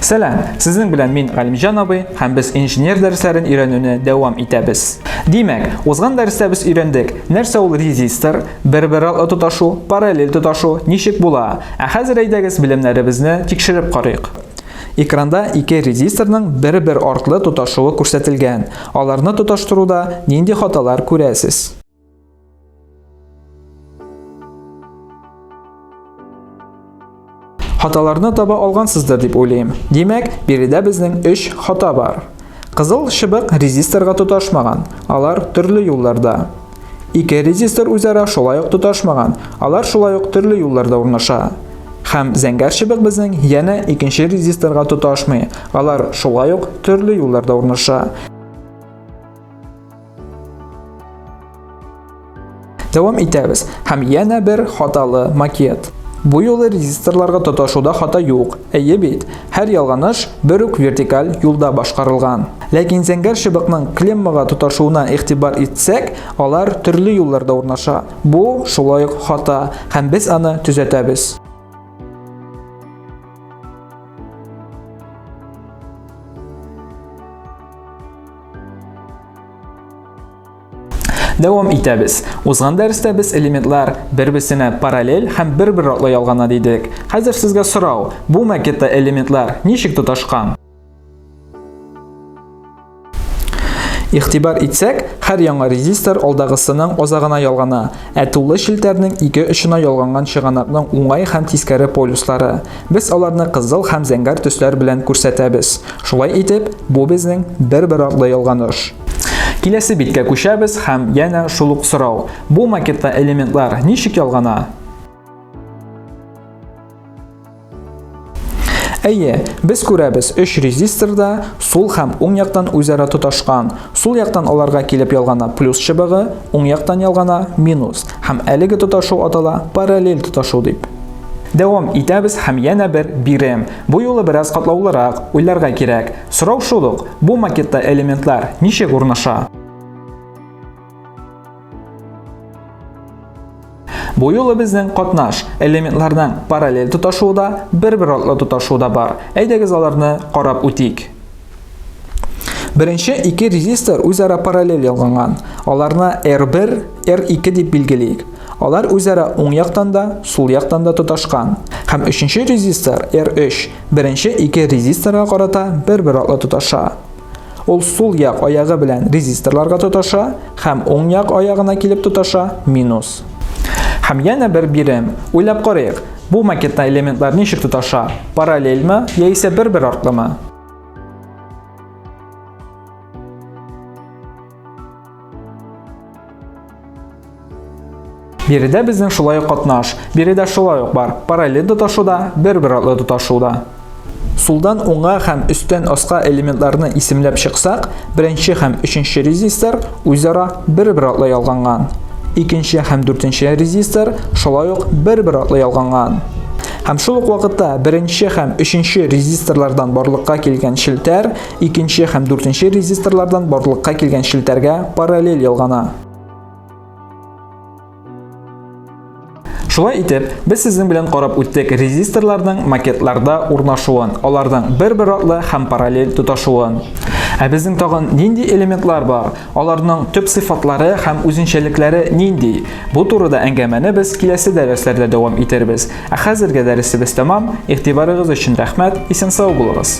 Сәлам! Сезнең белән мин Галимҗан абый һәм без инженер дәресләрен өйрәнүне дәвам итәбез. Димәк, узган дәрестә без өйрәндек, нәрсә ул резистор, бер-бер артлы тоташу, параллель тоташу, ничек була. Ә хәзер әйдәгез белемнәребезне тикшереп карыйк. Экранда ике резисторның бер-бер артлы тоташуы күрсәтелгән. Аларны тоташтыруда нинди хаталар күрәсез? Хаталарны таба алгансыздыр дип уйлыйм. Димәк, биредә безнең 3 хата бар. Кызыл чыбык резисторга тоташмаган, алар төрле юлларда. Ике резистор үзара шулай ук тоташмаган, алар шулай ук төрле юлларда урнаша. Хәм зәңгәр чыбык безнең яна икенче резисторга тоташмый, алар шулай ук төрле юлларда урнаша. Дәвам итәбез. Хәм яна бер хаталы макет. Бу юлы резисторларга тоташуда хата юк. Әйе бит, һәр ялганыш бер үк вертикаль юлда башкарылган. Ләкин зәңгәр чыбыкның клеммага тоташуына игътибар итсәк, алар төрле юлларда урнаша. Бу, шулай ук хата, һәм без аны төзәтәбез. Дәвам итәбез. Узган дәрестә без элементлар бер-берсенә параллель һәм бер-бер ратлы ялгана дидек. Хәзер сезгә сорау, бу макетта элементлар ничек тоташкан? Игътибар итсәк, һәр яңа резистор алдагысының азагына ялгана, ә тулы челтәрнең ике очына ялганган чыганакның уңай һәм тискәре полюслары. Без аларны кызыл һәм зәңгәр төсләр белән күрсәтәбез. Шулай итеп, бу безнең бер-бер артлы ялганыш. Киләсе биткә күчәбез һәм янә шул ук сорау. Бу макетта элементлар ничек ялгана? Әйе, без күрәбез, өч резистор да сул һәм уң яктан үзара тоташкан. Сул яктан аларга килеп ялгана плюс чыбыгы, уң яктан ялгана минус. Һәм әлеге тоташу атала параллель тоташу дип. Дәвам итәбез һәм янә бер бирем. Бу юлы бераз катлаулырак уйларга кирәк. Сорау шул ук, бу макетта элементлар ничек урнаша? Бу юлы безнең катнаш элементларның параллель тоташуы да, бер-бер артлы тоташуы да бар. Әйдәгез аларны карап үтик. Беренче ике резистор үзара параллель ялганган. Аларны R1, R2 дип билгелик. Алар үзара уң яктан да, сул яктан да тоташкан. Һәм өченче резистор R3 беренче ике резисторга карата бер-бер артлы тоташа. Ул сул як аягы белән резисторларга тоташа һәм уң як аягына килеп тоташа минус. Һәм янә бер бирем. Уйлап карыйк, бу макетта элементлар ничек тоташа? Параллельме яисә бер-бер артлымы? Биредә безнең шулай ук катнаш. Биредә шулай ук бар. Параллель тоташуда, бер-бер атлы тоташуда. Сулдан уңга һәм өстән аска элементларны исемләп чыксак, беренче һәм өченче резистор үзара бер-бер атлы ялганган. Икенче һәм дүртенче резистор шулай ук бер-бер атлы ялганган. Һәм шул ук вакытта беренче һәм өченче резисторлардан барлыкка килгән челтәр икенче һәм дүртенче резисторлардан барлыкка килгән челтәргә параллель ялгана. Шулай итеп, без сезнең белән карап үттек резисторларның макетларда урнашуын, аларның бер-бер артлы һәм параллель тоташуын. Ә безнең тагын нинди элементлар бар? Аларның төп сыйфатлары һәм үзенчәлекләре нинди? Бу турыда әңгәмәне без киләсе дәресләрдә дәвам итербез. Ә хәзергә дәресебез тәмам. Игътибарыгыз өчен рәхмәт. Исән сау булыгыз.